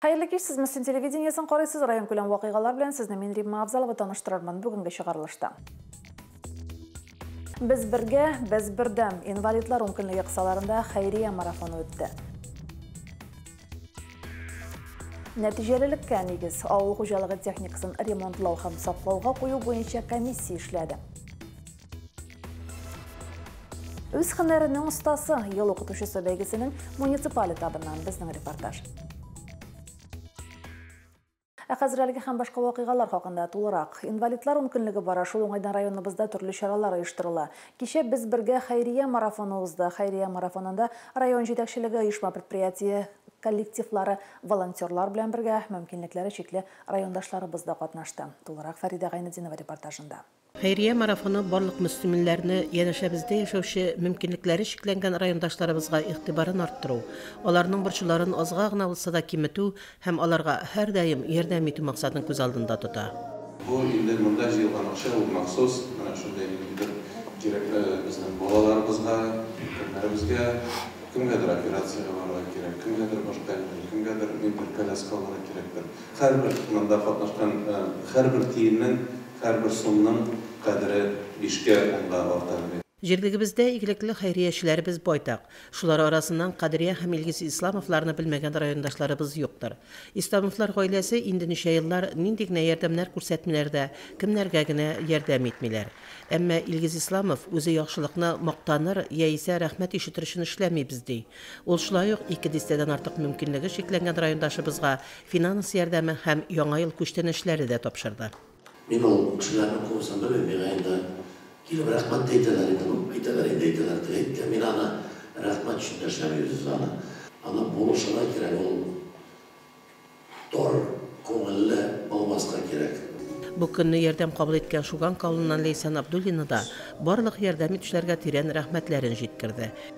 Хәерле кич, сез Мөслим телевидениесен карыйсыз, районкүләм вакыйгалар белән сезне мин Римма Абзалова таныштырырмын бүгенге чыгарылышта. Без бергә, без бердәм инвалидлар ункөнлеге кысаларында хәйрия марафоны үтте. Нәтиҗәлелеккә нигез, авыл хуҗалыгы техникасын ремонтлау һәм саклауга кую буенча комиссия эшләде. Үз хәнәренең остасы, ел укытучысы бәйгесенең муниципаль этабыннан безнең репортаж. Ә хәзер әлеге һәм башка вакыйгалар хакында тулырак. Инвалидлар ун көнлеге бара, шул уңайдан районыбызда төрле чаралар оештырыла. Кичә без бергә хәйрия марафоны узды. Хәйрия марафонында район җитәкчелеге, оешма предприятие коллективлары, волонтерлар белән бергә мөмкинлекләре чикле райондашларыбыз да катнашты. Тулырак Фәридә Гайнединова репортажында. Хәйрия марафоны барлык мөслиминләрне, янәшәбездә яшәүче мөмкинлекләре чикләнгән райондашларыбызга игътибарын арттыру, аларның борчуларын азга гына булса да киметү һәм аларга һәрдаим ярдәм итү максатын күз алдында тота. Бу инде монда җыелган акча ул махсус менә шундый бер кирәкле безнең балаларыбызга, өлкәннәребезгә, кемгәдер операциягә барырга кирәк, кемгәдер башка нинди, кемгәдер мебель, коляска алырга кирәктер. Һәрбер сынагда катнашкан һәрбер тиеннең, һәрбер сумның кадере бишкә, унга арта әле. Җирлегебездә игелекле хәйриячеләребез байтак. Шулар арасыннан Кадрия һәм Илгиз Исламовларны белмәгән райондашларыбыз юктыр. Исламовлар гаиләсе инде ничә еллар нинди генә ярдәмнәр күрсәтмиләр дә, кемнәргә генә ярдәм итмиләр. Әмма Илгиз Исламов үзе яхшылыкны мактаныр яисә рәхмәт ишетер өчен эшләмибез ди. Ул шулай ук ике дистәдән артык мөмкинлеге чикләнгән райондашыбызга Финанс ярдәме һәм Яңа ел күчтәнәчләре дә тапшырды. Мин ул кешеләрнең күбесен белмим, миңа инде килеп рәхмәт тә әйтәләр инде, ну, әйтәләр инде, әйтәләр дә әйт тә, мин аны рәхмәт өчен дәшәмим үз аны. Аны булышырга кирәк, ул тор күңелле булмаска кирәк. Бу көнне ярдәм кабул иткән Шуганка авылыннан Ләйсән Абдуллина да барлык ярдәм итүчеләргә тирән рәхмәтләрен җиткерде.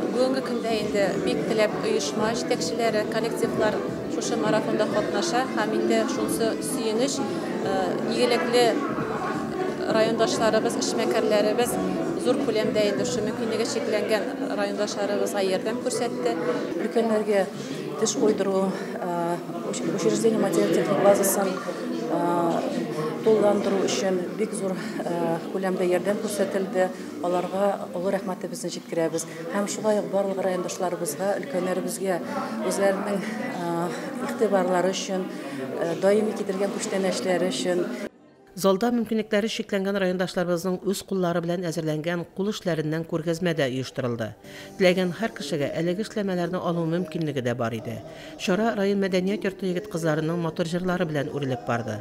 Бүгенге көндә инде бик теләп оешма җитәкчеләре, коллективлар шушы марафонда катнаша һәм инде шунсы сөенеч, э, игелекле райондашларыбыз, эшмәкәрләребез зур күләмдә инде шушы мөмкинлеге чикләнгән райондашларыбызга ярдәм күрсәтте. Өлкәннәргә теш куйдыру учреждение материаль-техник базасын тулыландыру өчен бик зур күләмдә ярдәм күрсәтелде. Аларга олы рәхмәтебезне җиткерәбез һәм шулай ук барлык райондашларыбызга, өлкәннәребезгә үзләренең игътибарлары өчен, даими китерген күчтәнәчләре өчен. Залда мөмкинлекләре чикләнгән райондашларыбызның үз куллары белән әзерләнгән кул эшләреннән күргәзмә дә оештырылды. Теләгән һәр кешегә әлеге эшләмәләрне алу мөмкинлеге дә бар иде. Чара район мәдәният йорты егет-кызларының матур җырлары белән үрелеп барды.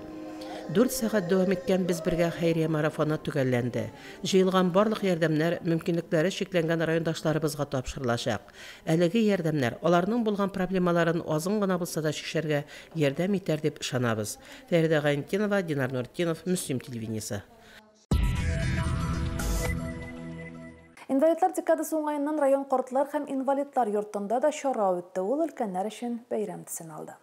Дүрт сәгать дәвам иткән Без бергә хәйрия марафоны төгәлләнде. Җыелган барлык ярдәмнәр мөмкинлекләре чикләнгән райондашларыбызга тапшырылачак. Әлеге ярдәмнәр аларның булган проблемаларын азын гына булса да чишәргә ярдәм итәр дип ышанабыз. Фәридә Гайнтдинова, Динар Нуртдинов, Мөслим телевидениесе. Инвалидлар декадасы уңаеннан район картлар һәм инвалидлар йортында да чара үтте, ул өлкәннәр өчен бәйрәм төсен алды.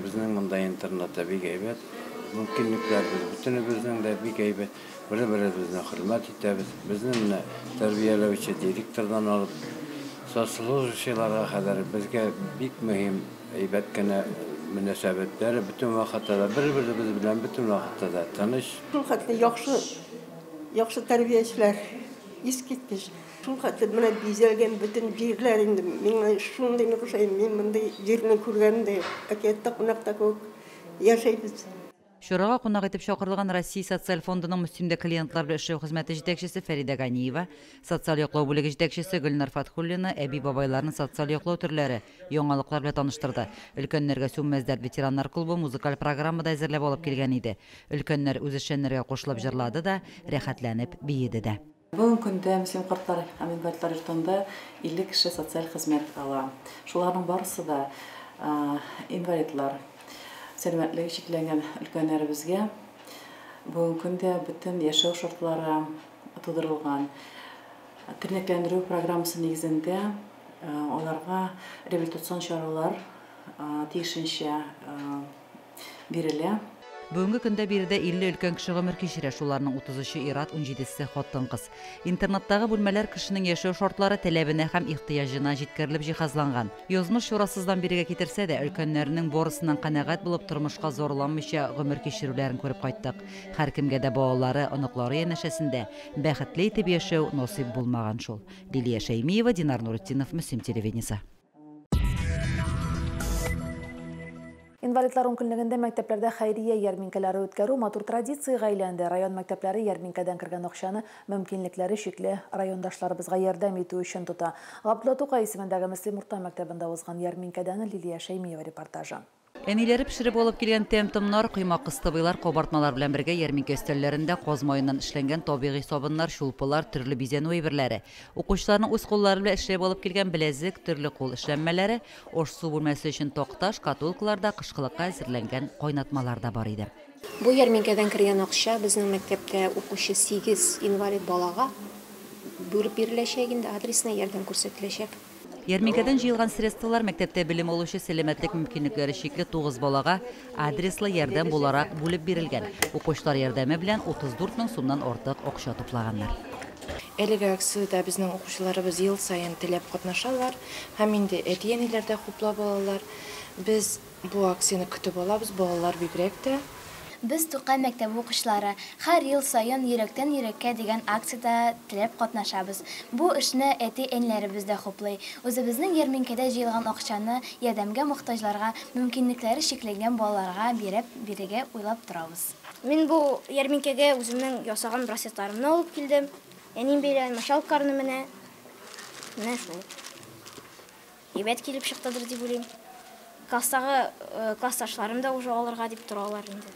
Безнең монда интернатта бик әйбәт мөмкинлекләр, без бөтенебезнең дә бик әйбәт, бер-беребезне хөрмәт итәбез. Безне менә тәрбияләүче директордан алып, соцслужащийларга кадәр безгә бик мөһим, әйбәт кенә мөнәсәбәтләр, бөтен вакытта да бер-беребез белән бөтен вакытта да тыныч. Шулхәтле яхшы, яхшы тәрбиячеләр, искиткеч. Шул хәтле менә бизәлгән бөтен җирләр инде. Миңа шундый нык ошый, мин мондый җирне күргәнем дә юк. Әкияттә кунакта кебек яшәйбез. Чарага кунак итеп чакырылган Россия социаль фондының Мөстимдә клиентлар белән эшләү хезмәте җитәкчесе Фәридә Ганиева, социаль яклау бүлеге җитәкчесе Гөлнар Фатхуллина әби-бабайларны социаль яклау төрләре, яңалыклар белән таныштырды. Өлкәннәргә Сүнмәс дәрт ветераннар клубы музыкаль программа да әзерләп алып килгән иде. Өлкәннәр үзешчәннәргә кушылып җырлады да, рәхәтләнеп биеде дә. Бүгенге көндә Мөслим картлар һәм инвалидлар йортында 50 кеше социаль хезмәт ала. Шуларның барысы да инвалидлар. Сәламәтлеге чикләнгән өлкәннәребезгә бүгенге көндә бөтен яшәү шартлары тудырылган. Тернәкләндерү программасы нигезендә аларга реабилитацион чаралар тиешенчә бирелә. Бүгенге көндә биредә 50 өлкән кеше гомер кичерә, шуларның 33-е ир-ат, унҗидесе, хатын-кыз. Интернаттагы бүлмәләр кешенең яшәү шартлары теләбенә һәм ихтыяҗына җиткерелеп җиһазланган. Язмыш чурасыздан бирегә китерсә дә, өлкәннәренең борысыннан канәгать булып, тормышка зарланмыйча гомер кичерүләрен күреп кайттык. Һәркемгә дә балалары, оныклары янәшәсендә бәхетле итеп яшәү насыйп булмаган шул. Лилия Шәймиева, Динар Нуретдинов, Мөслим телевидениесе. Инвалидлар ункөнлегендә мәктәпләрдә хәйрия ярминкәләре үткәрү матур традициягә әйләнде. Район мәктәпләре ярминкәдән кергән акчаны мөмкинлекләре чикле райондашларыбызга ярдәм итү өчен тота. Габдулла Тукай исемендәге Мөслим урта мәктәбендә узган ярминкәдән Лилия Шәймиева репортажы. Әниләре пешереп алып килгән тәм-томнар, коймак-кыстыбыйлар, кабартмалар белән бергә ярминкә өстәлләрендә каз маеннан эшләнгән табигый сабыннар, чулпылар, төрле бизәнү әйберләре, укучыларның үз куллары белән эшләп алып килгән беләзек, төрле кул эшләнмәләре, аш-су бүлмәсе өчен такта, шкатулкалар да, кышкылыкка әзерләнгән кайнатмалар да бар иде. Бу ярминкәдән кергән акча безнең мәктәптә укучы сигез инвалид балага бүлеп биреләчәк инде, адресына ярдәм күрсәтеләчәк. Ярминкәдән җыелган средстволар мәктәптә белем алучы сәламәтлек мөмкинлекләре чикле тугыз балага адреслы ярдәм буларак бүлеп бирелгән, укучылар ярдәме белән 34 мең сумнан артык акча туплаганнар. Әлеге акциядә безнең укучыларыбыз ел саен теләп катнашалар һәм инде әти-әниләр дә хуплап алалар. Без Бу акцияне көтеп алабыз, балалар бигрәк тә. Без, Тукай мәктәбе укучылары, һәр ел саен Йөрәктән йөрәккә дигән акциядә теләп катнашабыз. Бу эшне әти-әниләребез дә хуплый. Үзебезнең ярминкәдә җыелган акчаны ярдәмгә мохтаҗларга, мөмкинлекләре чикләнгән балаларга биреп бирергә уйлап торабыз. Мин бу ярминкәгә үземнең ясаган браслетларымны алып килдем. Әнием бәйләгән мочалкаларны менә. Менә шул. Әйбәт килеп чыктыдыр дип уйлыйм. Класстагы классташларым да уже алырга дип торалар инде.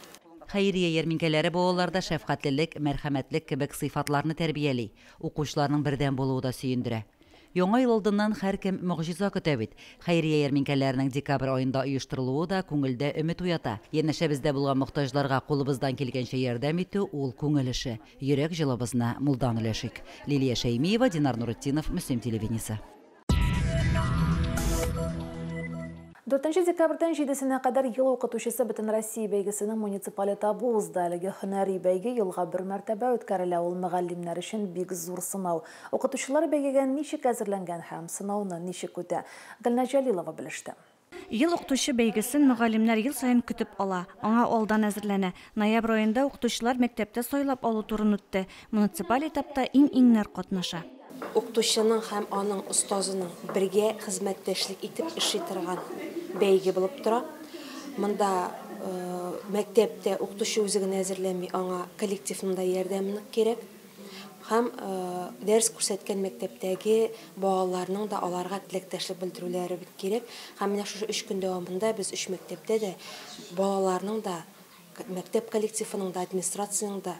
Хәйрия ярминкәләре балаларда шәфкатьлелек, мәрхәмәтлек кебек сыйфатларны тәрбияли, укучыларның бердәм булуы да сөендерә. Яңа ел алдыннан һәркем могҗиза көтә бит. Хәйрия ярминкәләренең декабрь аенда оештырылуы да күңелдә өмет уята. Янәшәбездә булган мохтаҗларга кулыбыздан килгәнчә ярдәм итү, ул, күңел эше. Йөрәк җылыбызны мулдан өләшик. Лилия Шәймиева, Динар Нуретдинов, Мөслим телевидениесе. 4 декабрьдән 7-сенә кадәр ел укытучысы Бөтенроссия бәйгесенең муниципаль этабы узды. Әлеге һөнәри бәйге елга бер мәртәбә үткәрелә, ул мөгаллимнәр өчен бик зур сынау. Укытучылар бәйгегә ничек әзерләнгән һәм сынауны ничек үтә? Гөлназ Җәлилова белеште. Ел укытучы бәйгесен мөгаллимнәр ел саен көтеп ала, аңа алдан әзерләнә. Ноябрь аенда укытучылар мәктәптә сайлап алу турын үтте. Муниципаль этапта иң-иңнәр катнаша. Укытучының һәм аның остазының бергә хезмәттәшлек итеп эшли торган бәйге булып тора. Монда мәктәптә укытучы үзе генә әзерләми, аңа коллективның да ярдәме нык кирәк. Һәм дәрес күрсәткән мәктәптәге балаларның да аларга теләктәшлек белдерүләре кирәк. Һәм менә шушы өч көн дәвамында без өч мәктәптә дә балаларның да, мәктәп коллективының да, администрациянең дә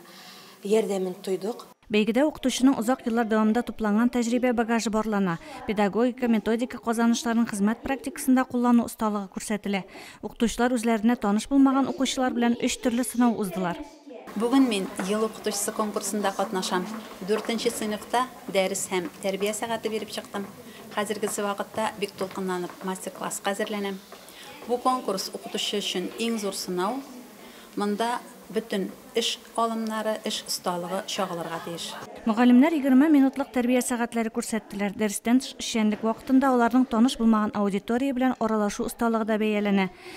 ярдәмен тойдык. Бәйгедә укытучының озак еллар дәвамында тупланган тәҗрибә багажы барлана, педагогика, методика казанышларын хезмәт практикасында куллану осталыгы күрсәтелә. Укытучылар үзләренә таныш булмаган укучылар белән өч төрле сынау уздылар. Бүген мин Ел укытучысы конкурсында катнашам. Дүртенче сыйныфта дәрес һәм тәрбия сәгате биреп чыктым. Хәзергесе вакытта бик дулкынланып мастер-класска әзерләнәм. Бу конкурс, укытучы өчен иң зур сынау. Монда бөтен эш алымнары, эш осталыгы чагылырга тиеш. Мөгаллимнәр егерме минутлык тәрбия сәгатьләре күрсәттеләр. Дәрестән тыш эшчәнлек вакытында аларның таныш булмаган аудитория белән аралашу осталыгы да бәяләнә.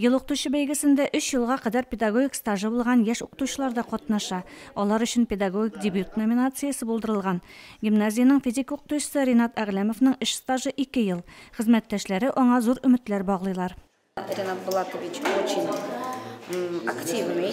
Ел укытучы бәйгесендә өч елга кадәр педагогик стажы булган яшь укытучылар да катнаша. Алар өчен педагогик дебют номинациясе булдырылган. Гимназиянең физика укытучысы Ринат Әгъләмовның эш стажы ике ел. Хезмәттәшләре аңа зур өметләр баглыйлар. Ринат Булатович очень активный.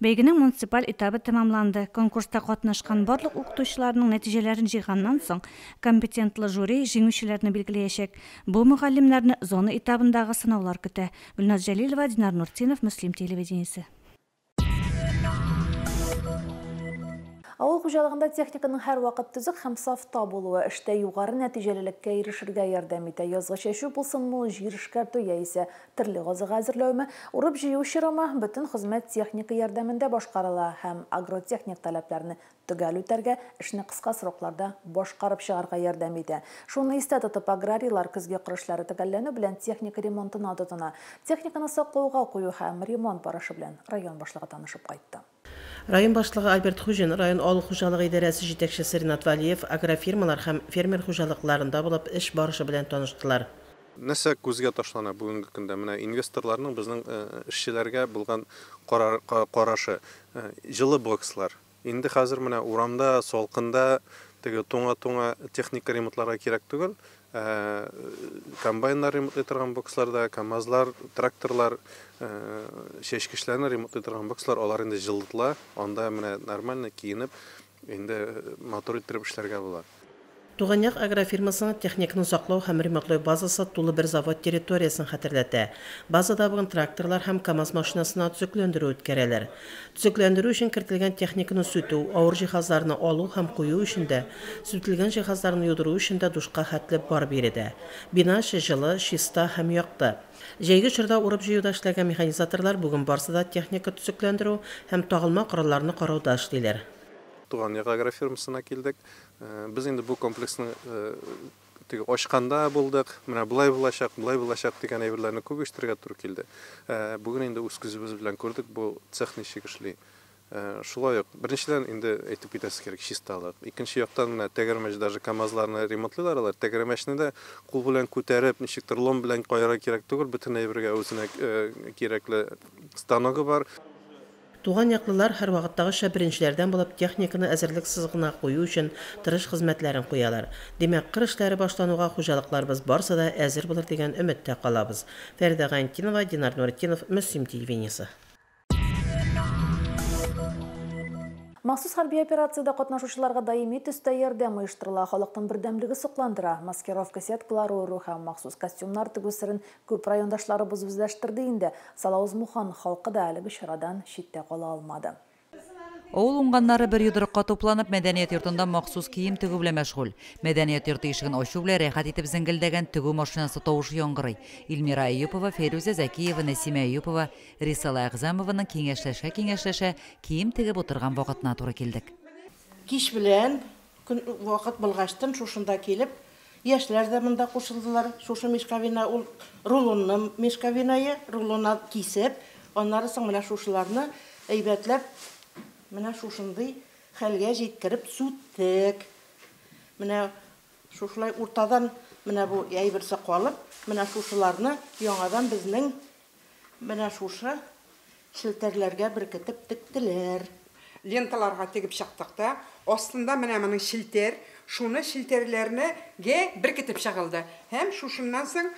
Бәйгенең муниципаль этабы тәмамланды. Конкурста катнашкан барлык укытучыларның нәтиҗәләрен җыйганнан соң, компетентлы жюри җиңүчеләрне билгеләячәк. Бу мөгаллимнәрне зона этабындагы сынаулар көтә. Гөлназ Җәлилова, Динар Нуртдинов, Мөслим телевидениесе. Авыл хуҗалыгында техниканың һәрвакыт төзек һәм сафта булуы, эштә югары нәтиҗәлелеккә ирешергә ярдәм итә. Язгы чәчү булсын ул, җир эшкәртү яисә Терле азыгы әзерләүме, урып-җыю чорымы, бөтен хезмәт техника ярдәмендә башкарыла һәм агротехник таләпләрне төгәл үтәргә, эшне кыска срокларда башкарып чыгарга ярдәм итә. Шуны истә тотып, аграрийлар көзге кыр эшләре төгәлләнү белән техника ремонтына тотына. Техниканы саклауга кую һәм ремонт барышы белән район башлыгы танышып кайтты. Район башлыгы Альберт Хуҗин, район авыл хуҗалыгы идарәсе җитәкчесе Ринат Вәлиев агрофирмалар һәм фермер хуҗалыкларында булып эш барышы белән таныштылар. Нәрсә күзгә ташлана бүгенге көндә? Менә инвесторларның безнең эшчеләргә булган карашы. Җылы бокслар. Инде хәзер менә урамда, салкында теге туңа-туңа техника ремонтларга кирәк түгел. Комбайннар ремонтлый торган боксларда, КАМАЗлар, тракторлар, чәчкечләрне ремонтлый торган бокслар, алар инде җылытыла. Анда менә нормально киенеп, инде мотор иттереп эшләргә була. Туган як агрофирмасының техниканы саклау һәм ремонтлау базасы тулы бер завод территориясен хәтерләтә. Базада бүген тракторлар һәм КАМАЗ машинасына төзекләндерү үткәрәләр. Төзекләндерү өчен кертелгән техниканы сүтү, авыр җиһазларны алу һәм кую өчен дә, сүтелгән җиһазларны юдыру өчен дә душка хәтле бар биредә. Бина эче җылы, чиста һәм якты. Җәйге чорда урып-җыюда эшләгән механизаторлар бүген барсы да техника төзекләндерү һәм тагылма коралларны карауда эшлиләр. Туган як агрофирмасына килдек. Без инде бу комплексның Теге ачканда булдык, менә болай булачак, болай булачак дигән әйберләрне күп ишетергә туры килде. Ә бүген инде үз күзебез белән күрдек, бу цех ничек эшли. Ә, шулай ук, беренчедән инде әйтеп китәсе кирәк, чисталык. Икенче яктан менә тәгәрмәч, даже КАМАЗларны ремонтлыйлар алар, тәгәрмәчне дә кул белән күтәреп, ничектер лом белән каярга кирәк түгел, бөтен әйбергә үзенә кирәкле станогы бар. Туган яклылар һәрвакыттагыча беренчеләрдән булып техниканы әзерлек сызыгына кую өчен тырыш хезмәтләрен куялар. Димәк, кыр эшләре башлануга хуҗалыкларыбыз барсы да әзер булыр дигән өметтә калабыз. Фәридә Гайнтдинова, Динар Нуретдинов, Мөслим телевидениесе. Махсус хәрби операциядә катнашучыларга даими төстә ярдәм оештырыла, халыкның бердәмлеге сокландыра. Маскировка сеткалары уру һәм махсус костюмнар тегү серен Күп райондашларыбыз үзләштерде инде, Салавыз-Мухан халкы да әлеге чарадан читтә кала алмады. Авыл уңганнары бер йодрыкка тупланып, мәдәният йортында махсус кием тегү белән мәшгуль. Мәдәният йорты ишеген ачу белән рәхәт итеп зеңгелдәгән тегү машинасы тавышы яңгырый. Илмира Әюпова, Фәйрүзә Зәкиева, Нәсимә Әюпова, Рисала Әгъзамованың киңәшләшә-киңәшләшә кием тегеп утырган вакытына туры килдек. Кич белән Көн вакыт булгачтын шушында килеп, яшьләр дә монда кушылдылар. Шушы мешковина ул рулонны мешковинае, рулона кисеп, аннары соң менә шушыларны әйбәтләп менә шушындый хәлгә җиткереп сүттек. Менә шушылай уртадан менә бу әйберсе калып, менә шушыларны яңадан безнең Менә шушы челтәрләргә беркетеп тектеләр. Ленталарга тегеп чыктык та, астында менә моның челтәр, шуны челтәрләрне гә беркетеп чыгылды. Һәм шушыннан соң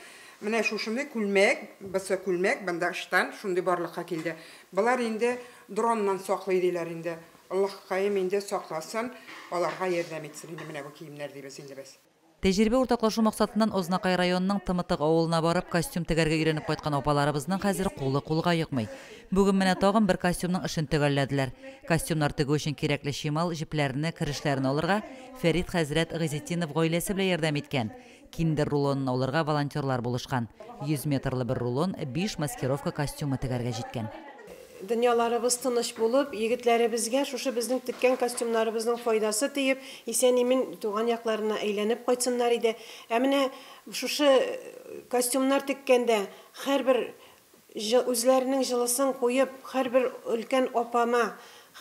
менә шушыны күлмәк, бысы күлмәк, бында штан, шундый барлыкка килде. Болар инде дроннан саклый диләр инде. Аллаһкаем инде сакласын, аларга ярдәм итсен инде менә бу киемнәр дибез инде без. Тәҗрибә уртаклашу максатыннан Азнакай районының Тымытык авылына барып, костюм тегәргә өйрәнеп кайткан апаларыбызның хәзер кулы кулга йокмый. Бүген менә тагын бер костюмның эшен төгәлләделәр. Костюмнар тегү өчен кирәкле чимал, җепләрне, керешләрне алырга Фәрит хәзрәт Гыйзетдинов гаиләсе белән ярдәм иткән. Киндер рулонын алырга волонтерлар булышкан. Йөз метрлы бер рулон, биш маскировка костюмы тегәргә җиткән. Дөньяларыбыз тыныч булып, егетләребезгә шушы безнең теккән костюмнарыбызның файдасы тиеп, исән-имин туган якларына әйләнеп кайтсыннар иде. Ә менә шушы костюмнар теккәндә һәрбер җы үзләренең җылысын куеп, һәрбер өлкән апама,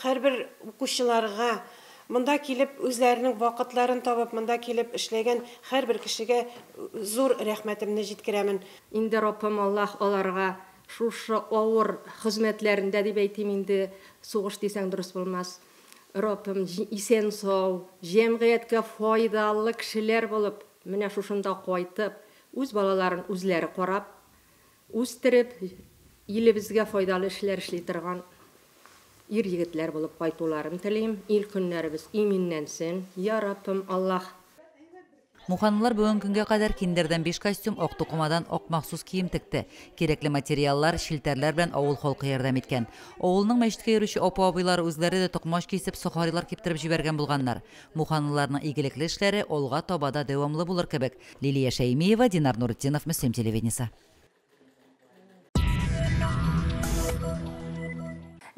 һәрбер укучыларга, монда килеп үзләренең вакытларын табып, монда килеп эшләгән һәрбер кешегә зур рәхмәтемне җиткерәмен. Инде Раббым Аллаһ аларга Шушы авыр хезмәтләрендә дип әйтим инде, сугыш дисәң дөрес булмас, Раббым, исән-сау, җәмгыятькә файдалы кешеләр булып, менә шушында кайтып, үз балаларын үзләре карап, үстереп, илебезгә файдалы эшләр эшли торган ир-егетләр булып кайтуларын телим, ил-көннәребез иминләнсен, йа Раббым, Аллаһ! Муханлылар бүгенге көнгә кадәр киндердән биш костюм, ак тукымадан ак махсус кием текте. Кирәкле материаллар, челтәрләр белән авыл халкы ярдәм иткән. Авылның мәчеткә йөрүче апа-абыйлар үзләре дә токмач кисеп, сохарилар киптереп җибәргән булганнар. Муханлыларның игелекле эшләре алга таба да дәвамлы булыр кебек. Лилия Шәймиева, Динар Нуретдинов, Мөслим телевидениесе.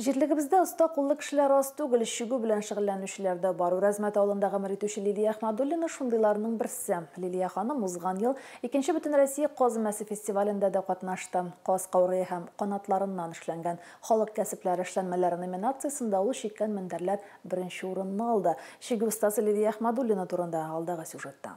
Җирлегебездә оста куллы кешеләр аз түгел, чүгү белән шөгыльләнүчеләр дә бар. Үрәзмәт авылында гомер итүче Лилия Әхмәдуллина шундыйларның берсе. Лилия ханым узган ел икенче бөтенроссия каз өмәсе фестивалендә дә катнашты. Каз каурые һәм канатларыннан эшләнгән халык кәсепләре эшләнмәләре номинациясендә ул чиккән мендәрләр беренче урынны алды. Чигү остасы Лилия Әхмәдуллина турында алдагы сюжетта.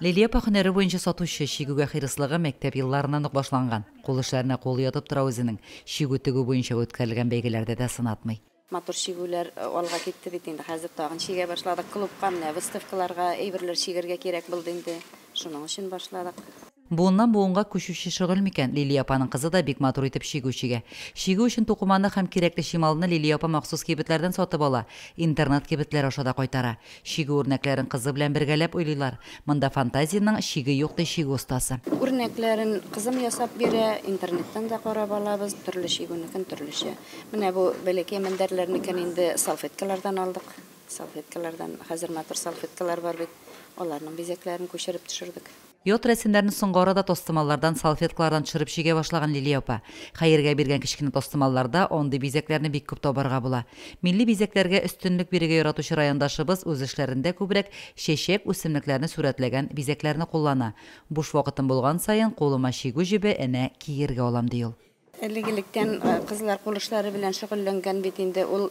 Лилия апа һөнәре буенча сатучы, чигүгә хирыслыгы мәктәп елларыннан ук башланган. Кул эшләренә кулы ятып тора үзенең. Чигү тегү буенча үткәрелгән бәйгеләрдә дә сынатмый. Матур чигүләр алга китте бит инде, хәзер тагын чигә башладык. Клубка менә выставкаларга әйберләр чигәргә кирәк булды инде, шуның өчен башладык. Буыннан буынга күчүче шөгыль микән, Лилия апаның кызы да бик матур итеп чигү чигә. Чигү өчен тукыманы һәм кирәкле чималны Лилия апа махсус кибетләрдән сатып ала, интернет-кибетләр аша да кайтара. Чигү үрнәкләрен кызы белән бергәләп уйлыйлар. Монда фантазиянең чиге юк, ди чигү остасы. Үрнәкләрен кызым ясап бирә, интернеттан да карап алабыз, төрле чигүнекен төрлечә. Менә бу бәләкәй мендәрләрнекен инде салфеткалардан алдык. Салфеткалардан, хәзер матур салфеткалар бар бит, аларның бизәкләрен күчереп төшердек. Ят рәсемнәрне соңгы арада тастымаллардан, салфеткалардан төшереп чигә башлаган Лилия апа. Хәергә биргән кечкенә тастымалларда андый бизәкләрне бик күп табарга була. Милли бизәкләргә өстенлек бирергә яратучы райондашыбыз үз эшләрендә күбрәк чәчәк, үсемлекләрне сурәтләгән бизәкләрне куллана. Буш вакытым булган саен, кулыма чигү җебе, энә, киергә алам, ди ул. Әлеге электән кызлар кул эшләре белән шөгыльләнгән бит инде. Ул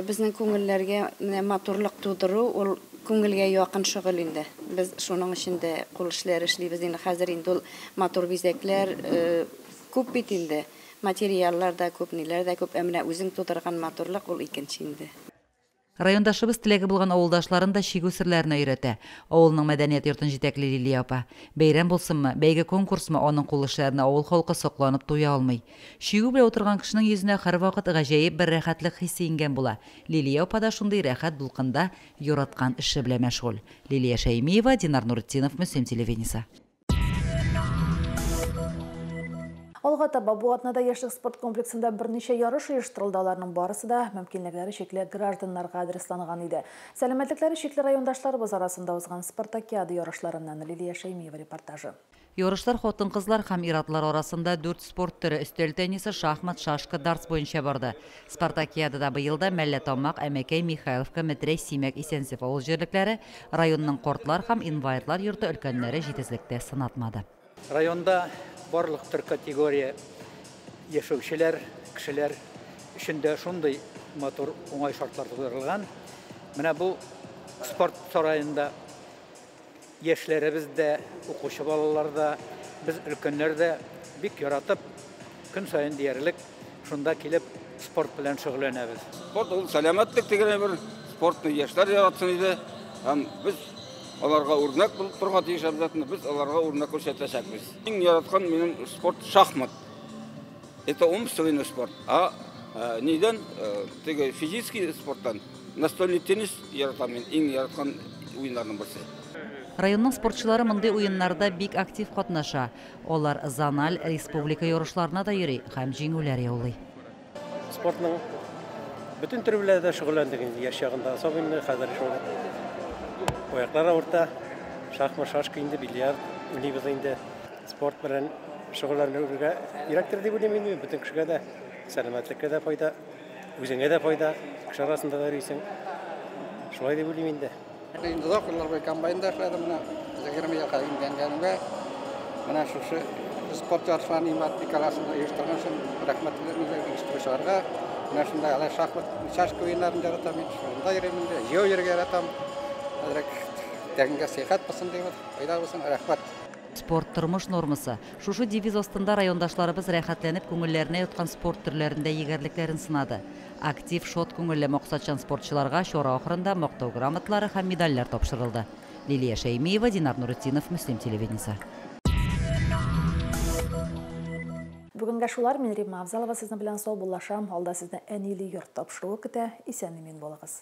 безнең күңелләргә менә матурлык тудыру, ул күңелгә якын шөгыль инде. Без шуның өчен дә кул эшләре эшлибез инде. Хәзер инде ул матур бизәкләр күп бит инде. Материаллар да күп, ниләр дә күп. Ә менә үзең тудырган матурлык, ул икенче инде. Райондашыбыз теләге булган авылдашларын да чигү серләренә өйрәтә. Авылның мәдәният йортын җитәкли Лилия апа. Бәйрәм булсынмы, бәйге-конкурсмы, аның кул эшләренә авыл халкы сокланып туя алмый. Чигү белән утырган кешенең йөзенә һәрвакыт гаҗәеп бер рәхәтлек хисе иңгән була. Лилия апа да шундый рәхәт дулкында, яраткан эше белән мәшгуль. Лилия Шәймиева, Динар Нуретдинов, Мөслим телевидениесе. Алга таба бу атнада яшьлек спорт комплексында берничә ярыш оештырылды, аларның барысы да мөмкинлекләре чикле гражданнарга адресланган иде. Сәламәтлекләре чикле райондашларыбыз арасында узган спартакиада ярышларыннан Лилия Шәймиева репортажы. Ярышлар хатын-кызлар һәм ир-атлар арасында дүрт спорт төре, өстәл теннисы, шахмат, шашка, дартс буенча барды. Спартакиадада быел да Мәллә Тамак, Әмәкәй, Михайловка, Метрәй, Симәк, Исәнсеф авыл җирлекләре, районның кортлар һәм инвалидлар йорты өлкәннәре җитезлектә сынатмады. Районда барлык төр категория яшәүчеләр, кешеләр өчен дә шундый матур, уңай шартлар тудырылган. Менә бу спорт сараенда. Яшьләребез дә, укучы балалар да, без өлкәннәр дә бик яратып, көн саен диярлек шунда килеп спорт белән шөгыльләнәбез. Спорт ул сәламәтлек дигән әйбер, спортны яшьләр яратсын иде һәм без аларга үрнәк булып торырга тиеш обязательно, без аларга үрнәк күрсәтәчәкбез. Иң яраткан минем спорт шахмат. Это умственный спорт. А э, нидән э, теге физический спорттан настольный теннис яратам мин. Иң яраткан уеннарның берсе. Районның спортчылары мондый уеннарда бик актив катнаша. Алар зональ, республика ярышларына да йөри һәм җиңүләр яулый. Спортның бөтен төре белән дә шөгыльләндек инде яшь чагында. Особенно хәзер шул аяклар авырта. Шахмат, шашка инде, бильярд уйныйбыз инде. Спорт белән шөгыльләнүгә кирәктер дип уйлыйм инде, бөтен кешегә дә сәламәтлеккә дә файда, үзеңә дә файда, кеше арасында да йөрисең. Шулай дип уйлыйм инде. Инде озак еллар буе комбайнда эшләдем, менә 20 елга имгәнгәнгә, менә шушы спорт ярышларын Имат Николаевна оештырган өчен рәхмәтле милек оештыручыларга. Менә шунда әле шахмат, шашка уеннарын яратам мин, шунда йөрим инде, җәяү йөрергә яратам. Хәзрәк тәнгә сихәт булсын дибез, файда булсын, рәхмәт. Спорт, тормыш нормасы. Шушы девиз астында райондашларыбыз рәхәтләнеп күңелләренә яткан спорт төрләрендә егәрлекләрен сынады. Актив, шат күңелле, максатчан спортчыларга чара ахырында Мактау грамоталары һәм медальләр тапшырылды. Лилия Шәймиева, Динар Нуретдинов, Мөслим телевидениесе. Бүгенгә шулар, мин Римма Авзалова сезнең белән саубуллашам, алда сезне әниле йорт тапшыруы көтә, исән-имин булыгыз.